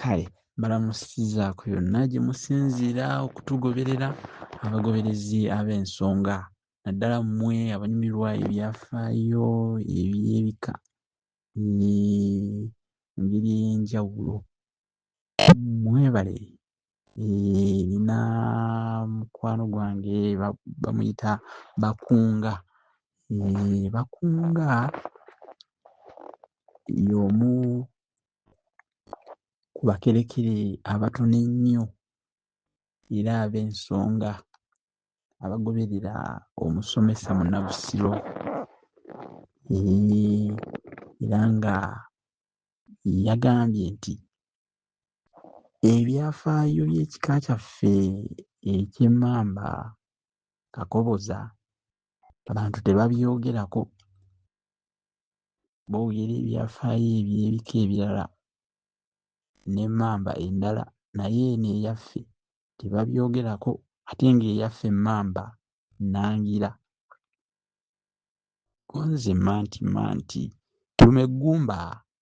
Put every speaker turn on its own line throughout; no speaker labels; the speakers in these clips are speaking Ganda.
kale balamusizaako yonna gye musinziira okutugoberera abagoberezi ab'ensonga naddala mmwe abanyumirwa ebyafaayo eby'ebika ne ngeri ey'enjawulo mwebale nina mukwano gwange bamuyita bakunga bakunga y'omu ku bakerekere abatono ennyo era ab'ensonga abagoberera omusomesa munabusiro era nga yagambye nti Ebyafaayo by'ekika kyaffe eky'emmamba Kakoboza abantu tebabyogerako, boogera ebyafaayo eby'ebika ebirala n'emmamba endala naye eno eyaffe tebabyogerako ate ng'eyaffe emmamba nnangira. Gonze manti manti, Tumeggumba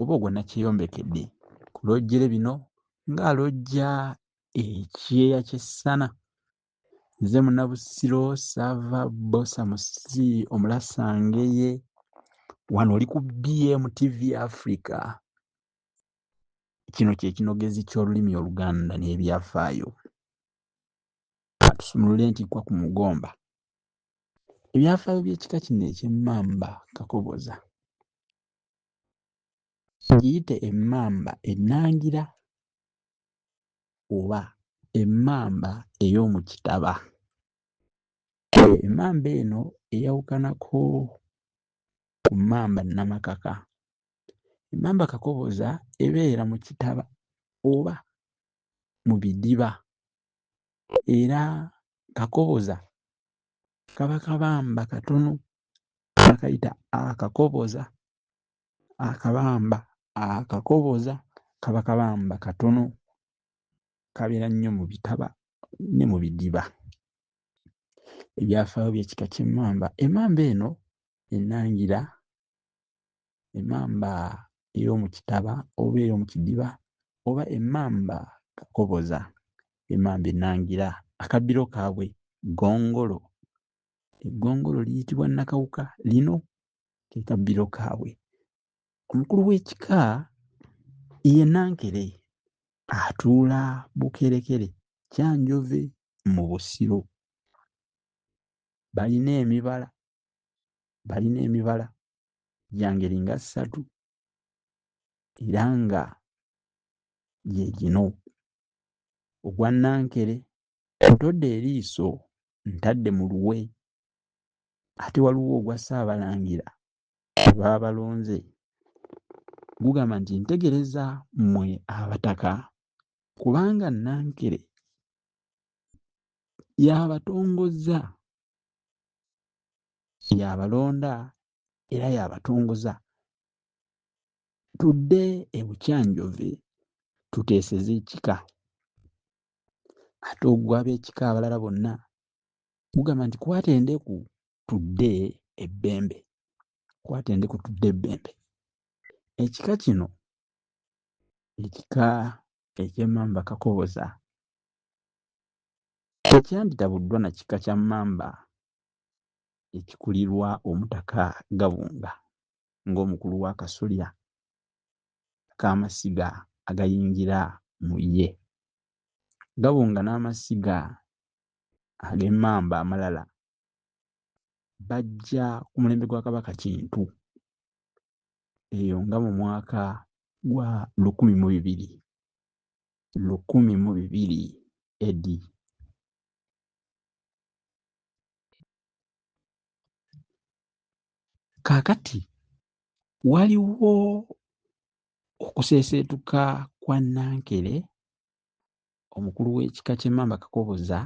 oba ogwo nakyeyombekedde ku lojjere bino nga alojja ekyeya kyessana nze munabusiro sava bosa musi omulasangeye wano oli ku bm tv africa kino kyekinogezi kyolulimi oluganda nebyafaayo atusumulule ntikwa ku mugomba ebyafaayo byekika kino ekyemmamba kakoboza ngiyite emmamba ennangira oba emmamba ey'omu kitaba. Emmamba eno eyawukanako ku mmamba nnamakaka. Emmamba kakoboza ebeera mu kitaba oba mu bidiba era kakoboza kaba kabamba katono bakayita akakoboza akabamba akakoboza kaba kabamba katono kabeera nnyo mu bitaba ne mu bidiba ebyafaayo by'ekika ky'emmamba emmamba eno ennangira emamba ey'omu kitaba oba ey'omu kidiba oba emamba kakoboza emamba ennangira akabbiro kaabwe ggongolo eggongolo liyitibwa nakawuka lino ke kabbiro kaabwe omukulu w'ekika ye nankere atuula bukerekere kyanjove mu busiro balina emibala balina emibala gya ngeri nga ssatu era nga gye gino ogwa nankere ntodde eriiso ntadde mu luwe ate waliwo ogwa ssaabalangira baabalonze gugamba nti ntegereza mmwe abataka kubanga nankere yabatongozza Y'abalonda era y'abatongoza. Tudde e Bukyanjove tuteeseze ekika. Ate ogwo ab'ekika abalala bonna gugamba nti kwata endeku tudde ebbembe, kwata endeku tudde ebbembe. Ekika kino ekika eky'Emmamba Kakoboza Tekyanditabuddwa na kika kya Mmamba ekikulirwa Omutaka Gabunga ng'omukulu w'akasolya k'amasiga agayingira mu ye. Gabunga n'amasiga ag'Emmamba amalala bajja ku mulembe gwa Kabaka Kintu eyo nga mu mwaka gwa lukumi mu bibiri. lukumi mu bibiri AD. Kaakati waliwo okuseeseetuka kwa Nankere omukulu w'ekika ky'Emmamba Kakoboza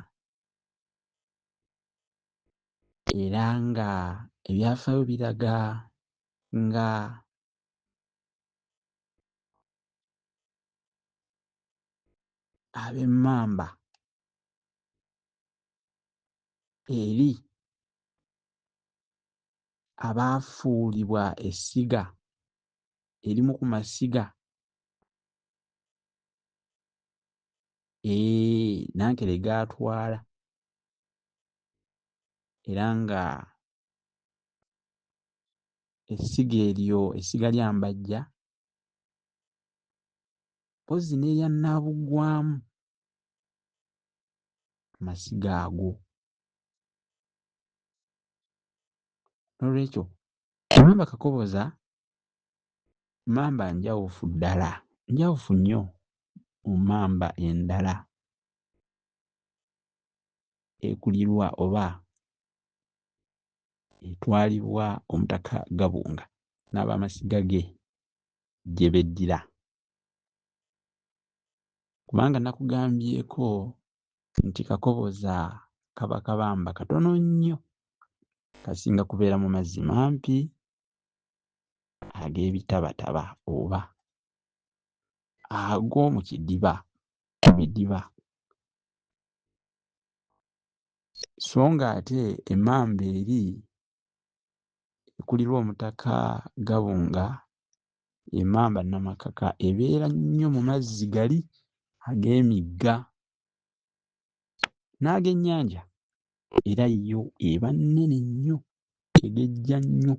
era nga ebyafaayo biraga nga ab'emmamba eri abaafuulibwa essiga erimu ku masiga ee nankere gaatwala era nga essiga eryo essiga lya mbajja mpozi n'eya nnaabugwamu amasiga ago nolwekyo mamba kakoboza mamba njawufu ddala njawufu nnyo mu mamba endala ekulirwa oba etwalibwa Omutaka Gabunga n'abamasiga ge gye beddira kubanga nakugambyeko nti Kakoboza kaba kabamba katono nnyo kasinga kubeera mu mazzi mampi ag'ebitabataba oba ag'omu kidiba mu bidiba so ng'ate emmamba eri ekulirwa Omutaka Gabunga emmamba Namakaka ebeera nnyo mu mazzi gali ag'emigga n'ag'ennyanja era yo eba nnene nnyo egejja nnyo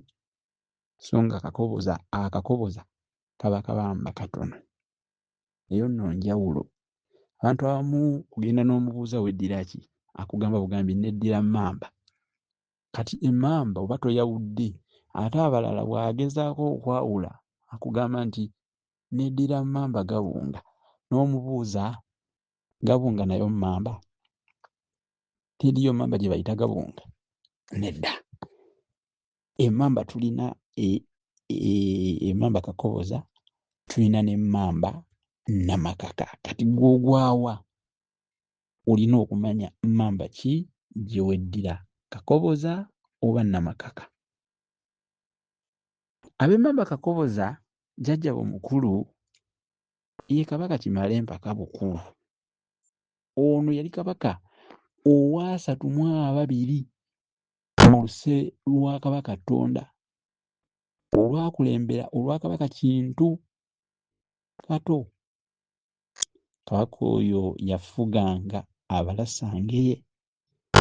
so nga akakoboza akakoboza kaba kabamba katono. eyo nno njawulo abantu abamu kugenda n'omubuuza weddira ki akugamba bugambi neddira mamba kati emamba oba toyawudde ate abalala bw'agezaako okwawula akugamba nti neddira mamba gabunga n'omubuuza gabunga nayo mamba teriyo mamba gye bayita gabunga nedda emamba tulina e- e- emamba kakoboza tulina nemamba namakaka kati gwogwawa olina okumanya mamba ki gyeweddira kakoboza oba namakaka abemamba kakoboza jajja bo mukulu ye kabaka kimale empaka bukulu ono yali kabaka owasatu mu ababiri Mu luse lwa Kabaka Ttonda olwakulembera olwa Kabaka Kintu Kato, Kabaka oyo yafuganga Abalasangeye.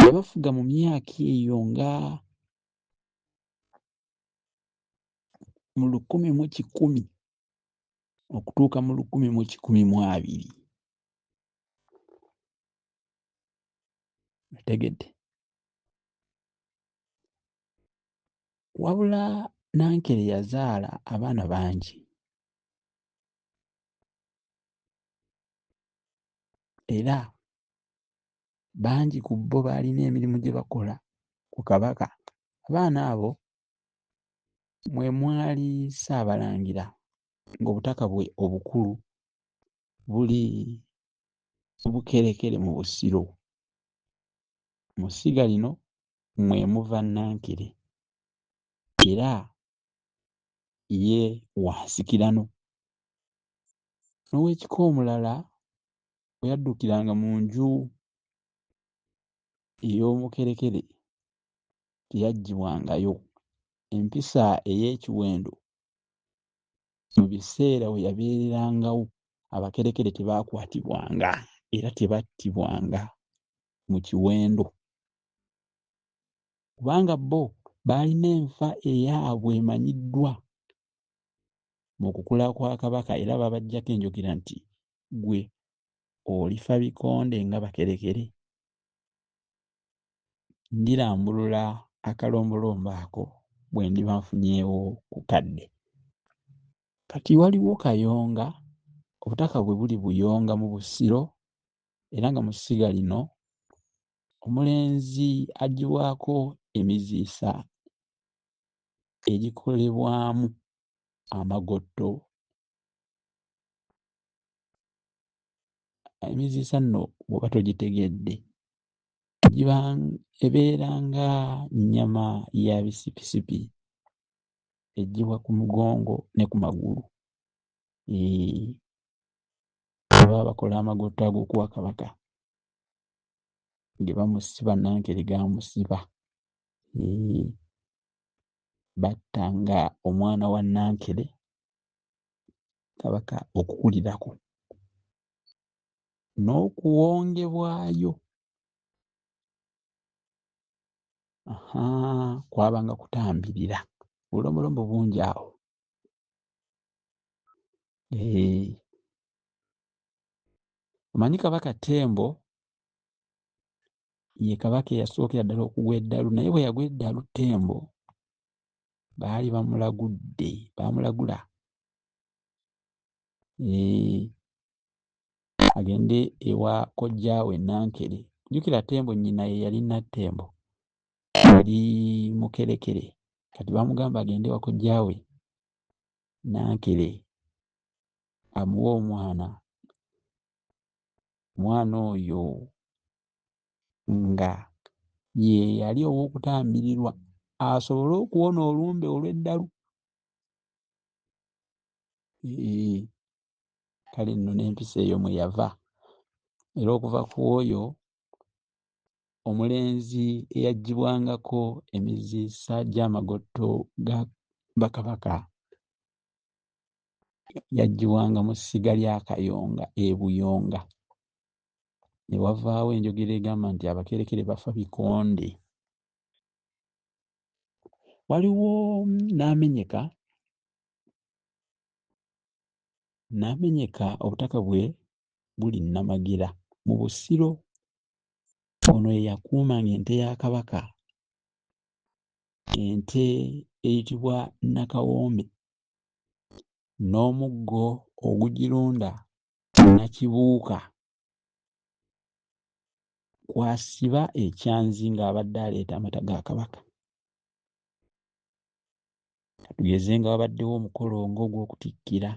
Yabafuga mu myaka eyo nga mu lukumi mu kikumi okutuuka mu lukumi mu kikumi mu abiri. Otegedde? wabula nankere yazaala abaana bangi era bangi ku bo baalina emirimu gye bakola ku kabaka abaana abo mwe mwali ssaabalangira ng'obutaka bwe obukulu buli bukerekere mu busiro Mu ssiga lino mwe muva Nankere era ye wa nsikirano. N'ow'ekika omulala bwe yaddukiranga mu nju ey'omukerekere teyaggibwangayo. Empisa ey'ekiwendo mu biseera we yabeererangawo abakerekere tebaakwatibwanga era tebattibwanga mu kiwendo kubanga bo baalina enfa eyaabwe emanyiddwa mu kukula kwa kabaka era babajjako enjogera nti gwe olifa bikonde nga bakerekere ndirambulula akalombolombo ako bwe ndiba nfunyeewo ku kadde kati waliwo kayonga obutaka bwe buli buyonga mu busiro era nga mu ssiga lino omulenzi agibwako emiziisa egikolebwamu amagotto emiziisa nno bwoba togitegedde ebeera nga nnyama ya bisipisipi eggyibwa ku mugongo ne ku magulu baba bakola amagotto ag'okuwa kabaka ge bamusiba nankere gamusiba batta nga omwana wa nankere kabaka okukulirako n'okuwongebwayo kwabanga kutambirira bulombolombo bungi awo omanyi kabaka tembo ye kabaka eyasookera ddala okugwa eddalu naye bwe yagwa eddalu tembo baali bamulagudde baamulagula agende ewa kojjaawe Nankere. Jjukira Ttembo nnyina ye yali Nattembo, yali Mukerekere. Kati bamugamba agende ewa kojjaawe Nankere amuwe omwana. Omwana oyo nga ye yali ow'okutambirirwa asobole okuwona olumbe olw'eddalu. Eeh. kale nno n'empisa eyo mwe yava era okuva ku oyo omulenzi eyaggyibwangako emiziisa gy'amagotto ga bakabaka yaggyibwanga mu ssiga lya kayonga e buyonga ne wavaawo enjogera egamba nti abakerekere bafa bikonde waliwo n'amenyeka n'amenyeka obutaka bwe buli Nnamagera mu Busiro. Ono ye yakuumanga ente ya Kabaka, ente eyitibwa Nakawombe n'omuggo ogugirunda Nakibuuka kw'asiba ekyanzi ng'abadde aleeta amata ga Kabaka. katugeze nga wabaddewo omukolo ng'ogw'okutikkira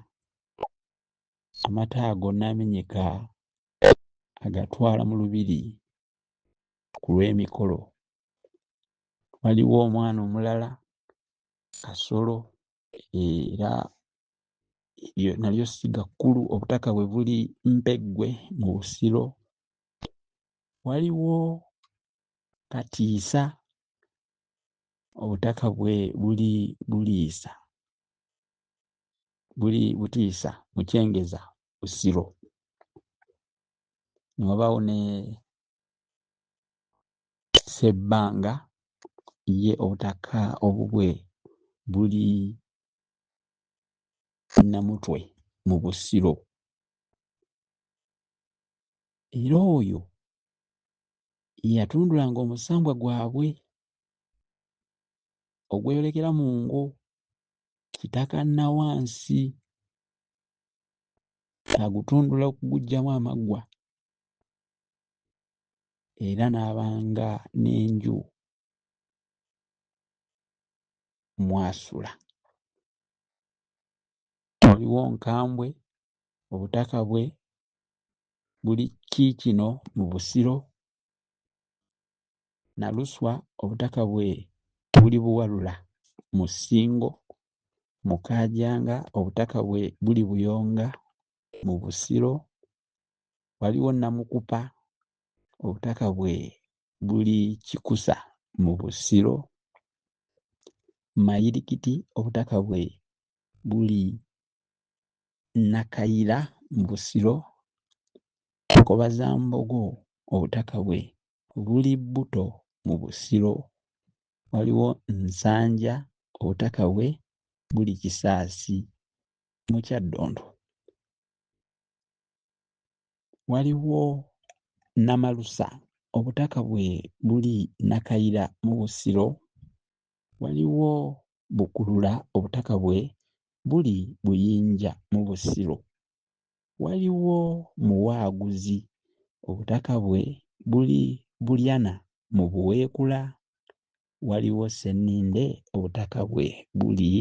amata ago n'amenyeka agatwala mu lubiri ku lw'emikolo waliwo omwana omulala kasolo era eryo nalyo siga kkulu obutaka bwe buli mpeggwe mu busiro waliwo katiisa obutaka bwe buli buliisa buli butiisa mukyengeza busiro ne wabaawo ne sebbanga ye obutaka obubwe buli namutwe mu busiro era oyo yatundulanga omusambwa gwabwe ogweyolekera mu ngo kitaka nawansi agutundula okugugyamu amaggwa era n'abanga n'enju mwasula waliwo nkambwe obutaka bwe buli kiikino mu Busiro, Naluswa obutaka bwe buli Buwalula mu Ssingo, Mukaajanga obutaka bwe buli Buyonga mu Busiro, waliwo Namukupa obutaka bwe buli Kikusa mu Busiro, Mayirikiti obutaka bwe buli Nakayira mu Busiro, Nkobazambogo obutaka bwe buli Bbuto mu Busiro, waliwo Nsanja obutaka bwe buli Kisaasi mu Kyaddondo, waliwo Namalusa obutaka bwe buli Nakayira mu Busiro, waliwo Bukulula obutaka bwe buli Buyinja mu Busiro, waliwo Muwaaguzi obutaka bwe buli Bulyana mu Buweekula, waliwo Ssenninde obutaka bwe buli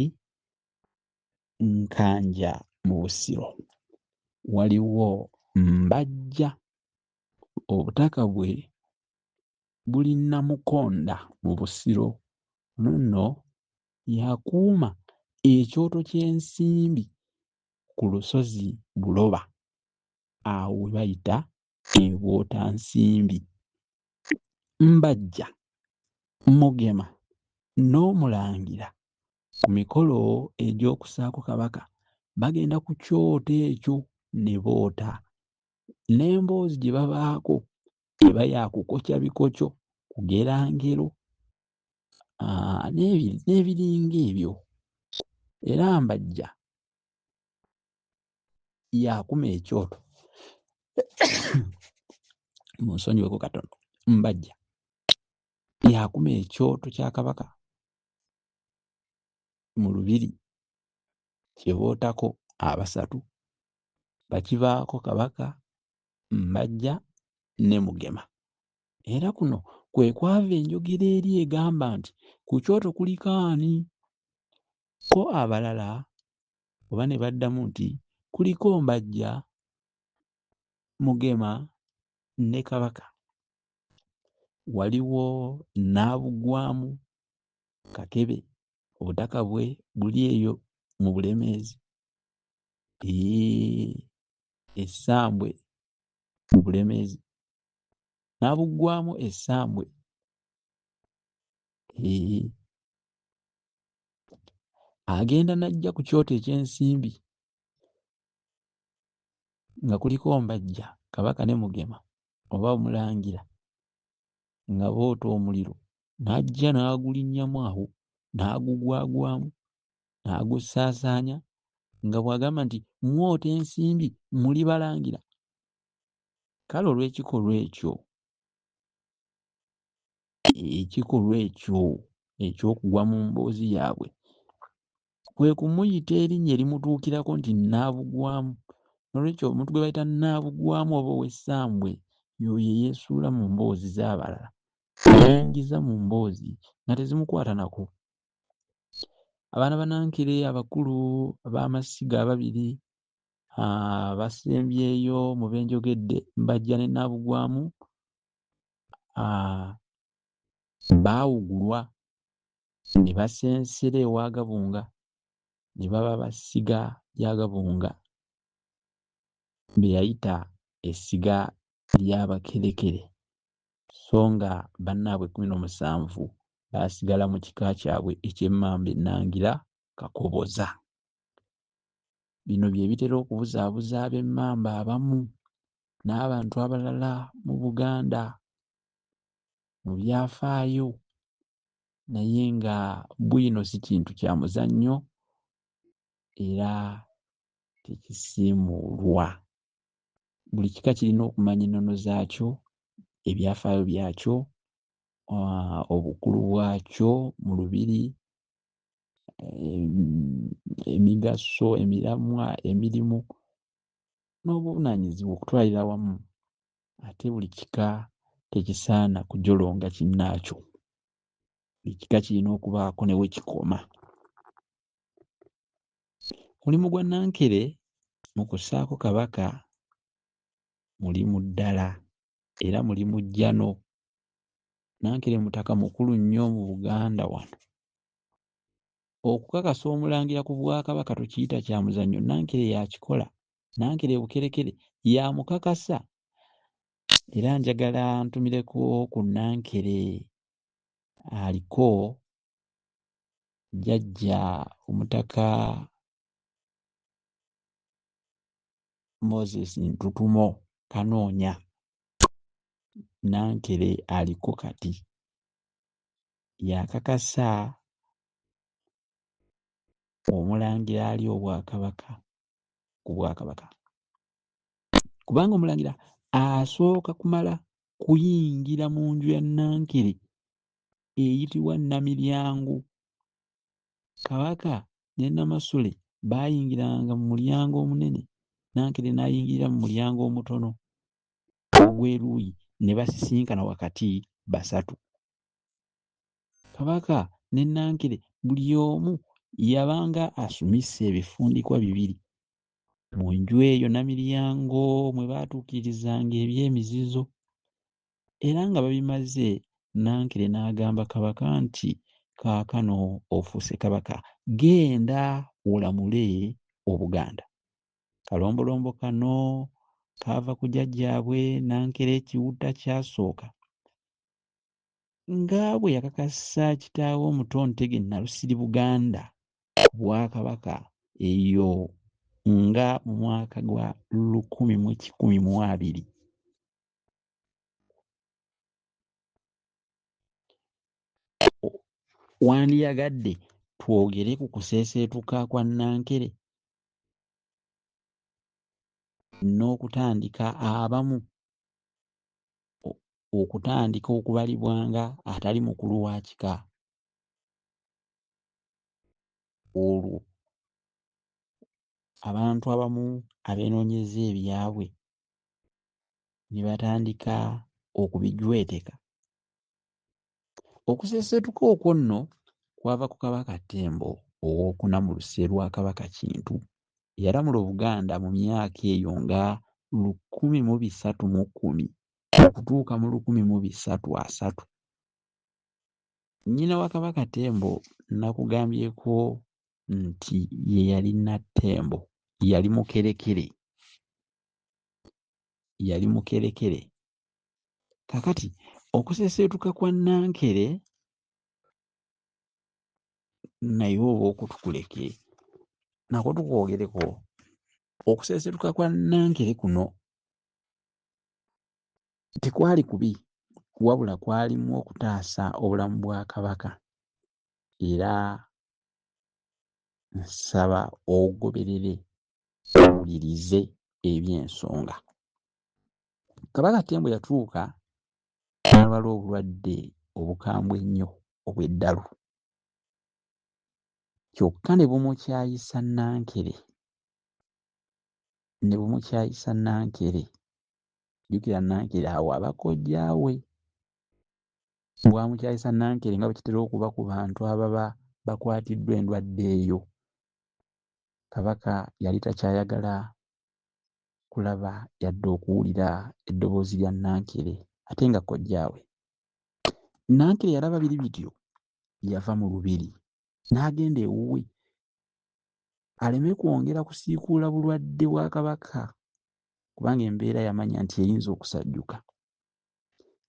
Nkanja mu Busiro, waliwo Mbajja obutaka bwe buli Namukonda mu Busiro luno yakuuma ekyoto ky'ensimbi ku lusozi Buloba awo we bayita e Bwotansimbi. Mbajja, Mugema n'Omulangira ku mikolo egy'okusaako Kabaka bagenda ku kyoto ekyo ne boota. N'emboozi gye babaako eba yakukokya bikokyo kugera ngero n'ebiringa ebyo era mbajja yakuma ekyoto munsonyiweko katono mbajja yakuma ekyoto kya kabaka mu lubiri kyebootako abasatu bakivaako kabaka Mbajja ne Mugema. Era kuno kwe kwava enjogera eri egamba nti ku kyoto kuliko ani? Ko abalala oba ne baddamu nti kuliko Mbajja, Mugema ne Kabaka. Waliwo n'abuggwamu Kakebe, obutaka bwe buli eyo mu Bulemeezi. Eeh, essambwe mu bulemeezi n'abuggwamu essambwe ee agenda n'ajja ku kyoto eky'ensimbi nga kuliko mbajja kabaka ne mugema oba omulangira nga boota omuliro n'ajja n'agulinnyamu awo n'agugwagwamu n'agussaasaanya nga bw'agamba nti mwota ensimbi muli balangira kale olw'ekikolwa ekyo ekikolwa ekyo eky'okugwa mu mboozi yaabwe kwe kumuyita erinnya erimutuukirako nti nnaabugwamu nolwekyo omuntu gwe bayita nnaabugwamu oba ow'essambwe yoyo eyeesuula mu mboozi z'abalala yeengiza mu mboozi nga tezimukwata nako abaana banankere abakulu ab'amasiga ababiri ah, basembyeyo mu benjogedde mbajja ne nabugwamu ah, baawugulwa ne basensera ewa gabunga ne baba basiga lya gabunga beyayita essiga ly'abakerekere sso nga bannaabwe kkumi n'omusanvu baasigala mu kika kyabwe eky'Emmamba Ennangira Kakoboza. Bino bye bitera okubuzaabuza ab'Emmamba abamu n'abantu abalala mu Buganda mu byafaayo naye nga bwino si kintu kya muzannyo era tekisiimuulwa. buli kika kirina okumanya ennono zaakyo ebyafaayo byakyo ah, obukulu bwakyo mu lubiri emigaso emiramwa emirimu n'obuvunaanyizibwa okutwalira wamu ate buli kika tekisaana kujolonga kinnaakyo buli kika kirina okubaako ne we kikoma Mulimu gwa Nankere mu kussaako Kabaka mulimu ddala era mulimu jjano. Nankere mutaka mukulu nnyo mu Buganda wano. Okukakasa omulangira ku Bwakabaka tokiyita kya muzannyo, Nankere yakikola. Nankere e Bukerekere yamukakasa era njagala ntumireko ku Nankere aliko jjajja omutaka moses ntutumo kanoonya nankere aliko kati yakakasa omulangira ali obwakabaka ku bwakabaka kubanga omulangira asooka kumala kuyingira mu nju ya nankere eyitibwa Namiryango. Kabaka ne Namasole baayingiranga mu mulyango omunene, Nankere n'ayingirira mu mulyango omutono ogw'eruuyi ne basisinkana wakati basatu. Kabaka ne Nankere buli omu yabanga asumisse ebifundikwa bibiri. Mu nju eyo Namiryango mwe baatuukirizanga eby'emizizo. era nga babimaze Nankere n'agamba Kabaka nti kaakano ofuuse Kabaka genda olamule Obuganda. Kalombolombo kano kaava ku jajjaabwe Nankere Kiwutta Kyasooka nga bwe yakakasa kitaawe omuto Ntege Nalusiri Buganda ku Bwakabaka eyo nga mu mwaka gwa lukumi mu kikumi mu abiri. Wandiyagadde twogere ku kuseeseetuka kwa Nankere n'okutandika abamu okutandika okubalibwa nga atali mukulu wa kika olwo abantu abamu abeenoonyeza ebyabwe ne batandika okubijweteka okusesetuka okwo nno kwava ku kabaka ttembo owokuna mu luse lwa kabaka kintu eyalamula obuganda mu myaka eyo nga lukumi mu bisatu mu kkumi okutuuka mu lukumi mu bisatu asatu nnyina wa kabaka ttembo nakugambyeko nti ye yali nattembo yali mukerekere yali mukerekere kakati okuseseetuka kwa nankere naye oba okutukuleke nako tukwogereko okuseeseetuka kwa nankere kuno tekwali kubi wabula kwalimu okutaasa obulamu bwa kabaka era nsaba ogoberere owulirize eby'ensonga kabaka tembo yatuuka n'alwala obulwadde obukambwe ennyo obw'eddalu kyokka ne bumukyayisa nankere ne bumukyayisa nankere jjukira nankere awo abakojjaawe Bwamukyayisa Nankere nga bwe kitera okuba ku bantu ababa bakwatiddwa endwadde eyo, Kabaka yali takyayagala kulaba yadde okuwulira eddoboozi lya Nankere ate nga kojjaawe. Nankere yalaba biri bityo, yava mu Lubiri n'agenda ewuwe aleme kwongera kusiikuula bulwadde bwa Kabaka kubanga embeera yamanya nti eyinza okusajjuka.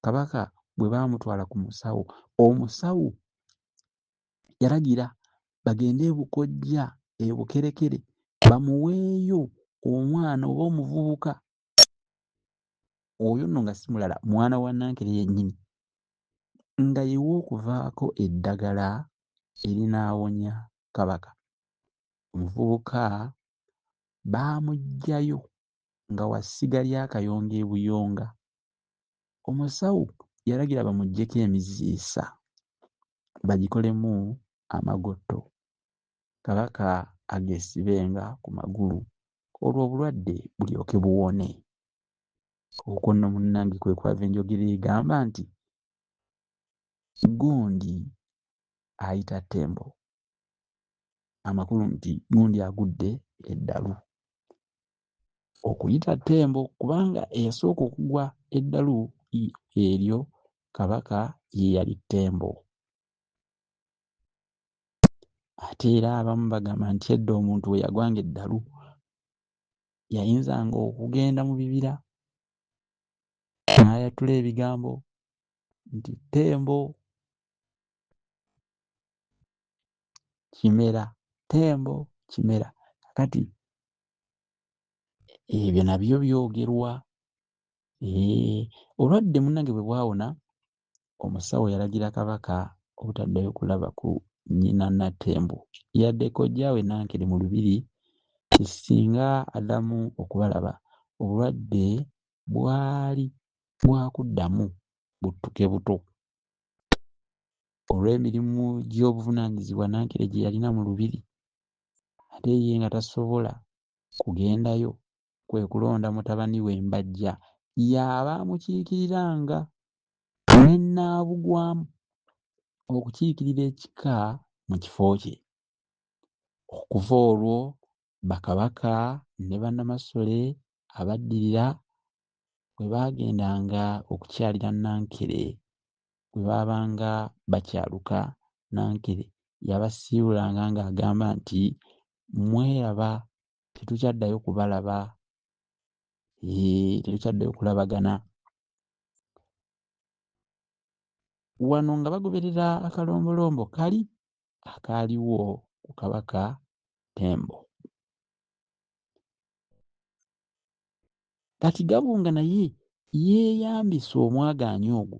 kabaka bwe baamutwala ku musawo omusawo yalagira bagende ebukojja ebukerekere bamuweeyo omwana oba omuvubuka oyo nno nga si mulala mwana wa nankere yennyini nga yewa okuvaako eddagala erinaawonya kabaka omuvubuka baamuggyayo nga wa ssiga lya Kayonga e Buyonga. Omusawo yalagira bamuggyeko emiziisa bagikolemu amagotto Kabaka ageesibenga ku magulu olwo obulwadde bulyoke buwone. Okwo nno munnange kwe kwava enjogera egamba nti, Gundi ayita Ttembo. amakulu nti gundi agudde eddalu okuyita ttembo kubanga eyasooka okugwa eddalu eryo kabaka ye yali ttembo ate era abamu bagamba nti edda omuntu we yagwanga eddalu yayinzanga okugenda mu bibira n'ayatula ebigambo nti ttembo kimera tembo kimera kakati ebyo nabyo byogerwa eh, olwadde munange bwe bwawona omusawo yalagira kabaka obutaddayo kulaba ku nnyina natembo yadde kojjaawe nankere mu lubiri ti singa adamu okubalaba obulwadde bwali bwakuddamu buttuke buto olw'emirimu gy'obuvunaanyizibwa Nankere gye yalina mu Lubiri ate ye nga tasobola kugendayo kwe kulonda mutabani we Mbajja y'aba amukiikiriranga ne Nnaabugwamu okukiikirira ekika mu kifo kye. Okuva olwo Bakabaka ne Bannamasole abaddirira bwe baagendanga okukyalira Nankere, bwe baabanga bakyaluka, Nankere yabasiibulanga ng'agamba nti, Mweraba, tetukyaddayo kubalaba, tetukyaddayo kulabagana. Wano nga bagoberera akalombolombo kali akaaliwo ku Kabaka Ttembo. Kati Gabunga naye yeeyambisa omwagaanya ogwo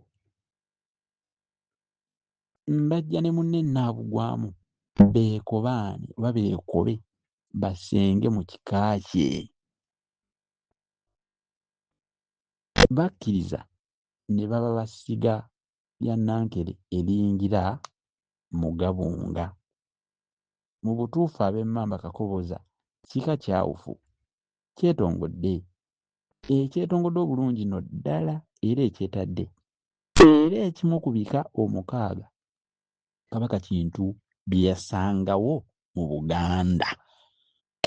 mbajja ne munne Nnaabugwamu beekobaane oba beekobe basenge mu kika kye. Bakkiriza ne baba basiga lya Nankere eriyingira mu Gabunga. Mu butuufu ab'Emmamba Kakoboza kika kyawufu, kyetongodde, ekyetongodde obulungi no ddala era ekyetadde. Era ekimu ku bika omukaaga Kabaka Kintu bye yasangawo mu Buganda.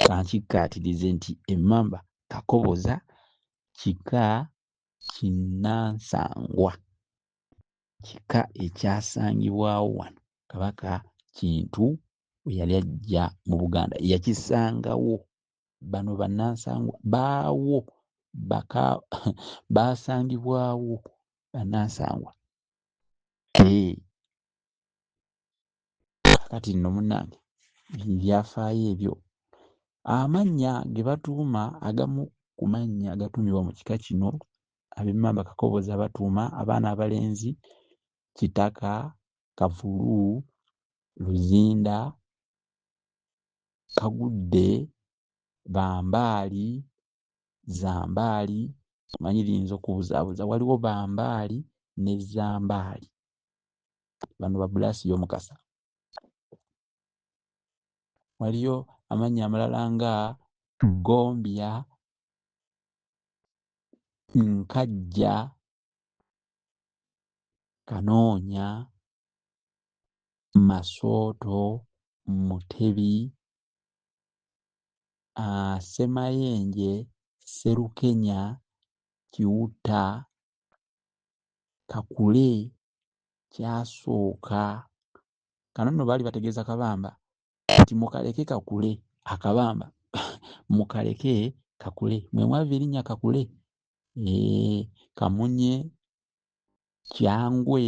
Ka nkikkaatirize nti Emmamba Kakoboza kika kinnansangwa kika ekyasangibwawo wano kabaka kintu bwe yali ajja mu buganda yakisangawo bano bannansangwa baawo baka baasangibwawo bannansangwa ee. kakati nno munnange ebyafaayo ebyo amannya ge batuuma agamu ku mannya agatuumibwa mu kika kino ab'emmamba kakoboozi abatuuma abaana abalenzi kitaka kavulu luzinda kagudde bambaali zambaali omanyi liyinza okubuzaabuza waliwo bambaali ne zambaali bano ba bulaasi y'omukasa waliyo amannya amalala nga gombya nkajja kanoonya masooto mutebi ah, semayenje serukenya kiwutta kakule kyasooka kano nno baali bategeeza kabamba nti mukaleke kakule akabamba mukaleke kakule mwemwava erinnya kakule ee kamunye kyangwe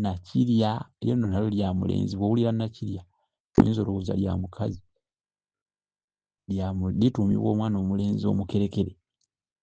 nakirya eryo nno nalo lya mulenzi bwowulira nakirya oyinza olowooza lya mukazi lituumibwa omwana omulenzi omukerekere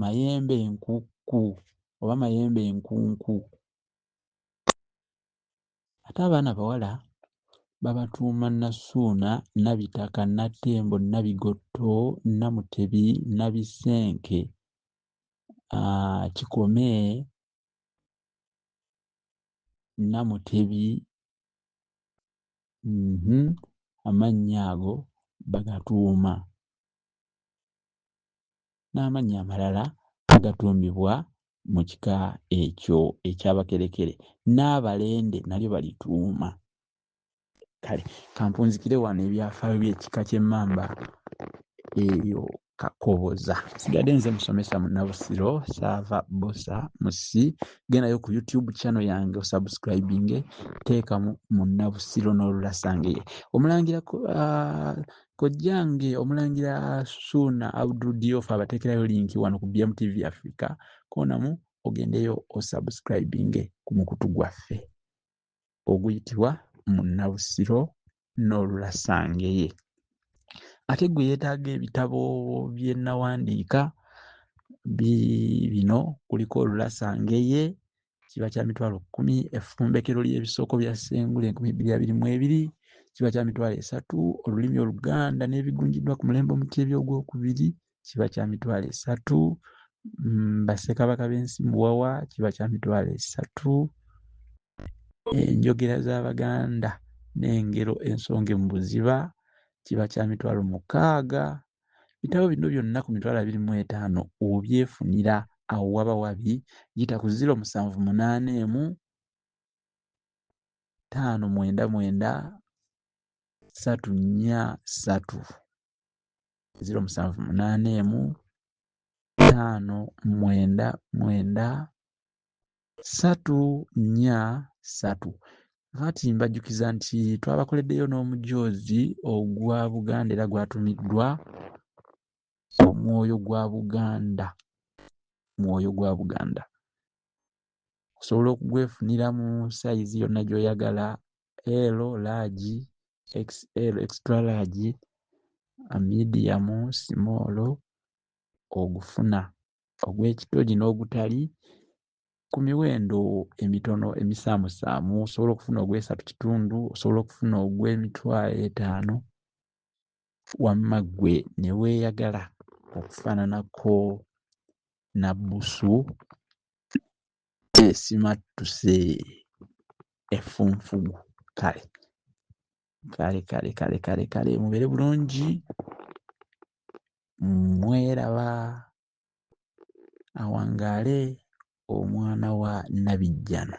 mayembe nkukku oba mayembe enkunku ate abaana bawala babatuuma Nassuuna, Nabitaka, Nattembo, Nabigotto, Namutebi, Nabisenke, ah, Kikome, Namutebi, mhm, amannya ago bagatuuma. n'amannya amalala agatuumibwa mu kika ekyo eky'Abakerekere n'Abalende nalyo balituuma. Kale kampunzikire wano ebyafaayo by'ekika ky'Emmamba eyo kakoboza sigadde nze musomesa munabusiro saava busa musi gendayo ku youtube channel yange osubscribinge teekamu munabusiro n'olulasangeye omulangira uh, Kojjange omulangira Suuna Abdul Diofa abateekerayo linki wano ku BMTV Africa koonamu ogendeyo osubscribinge ku mukutu gwaffe oguyitibwa Munnabusiro n'Olulasangeye. Ate gwe yeetaaga ebitabo bye nawandiika bino kuliko Olulasangeye kiba kya mitwalo kkumi effumbekero ly'ebisoko bya sengula enkumi bbiri abiri mu ebiri kiba kya mitwalo esatu olulimi oluganda n'ebigunjiddwa ku mulembe omuteebi ogwokubiri kiba kya mitwalo esatu mm, bassekabaka b'ensi muwawa kiba kya mitwalo esatu enjogera z'abaganda n'engero ensonge mu buziba kiba kya mitwalo mukaaga bitabo bino byonna ku mitwalo abiri mu etaano obyefunira awo waba wabi yita ku ziro musanvu munaana emu taano mwenda mwenda satu nnya satu ziro musanvu munaana emu taano mwenda mwenda ssatu nnya ssatu kati mbajjukiza nti twabakoleddeyo n'omujoozi ogwa buganda era gwatumiddwa omwoyo gwa buganda mwoyo gwa buganda osobola okugwefunira mu sayizi yonna gy'oyagala l laagi xl extra laagi amidiyamu simoolo ogufuna ogw'ekitogi n'ogutali ku miwendo emitono emisaamusaamu osobola okufuna ogw'esatu kitundu osobola okufuna ogw'emitwalo etaano wamma ggwe ne weeyagala okufaananako nabbusu esimattuse effunfugu kale kale kale kale kale kale mubeere bulungi mweraba awangaale omwana wa nabijjano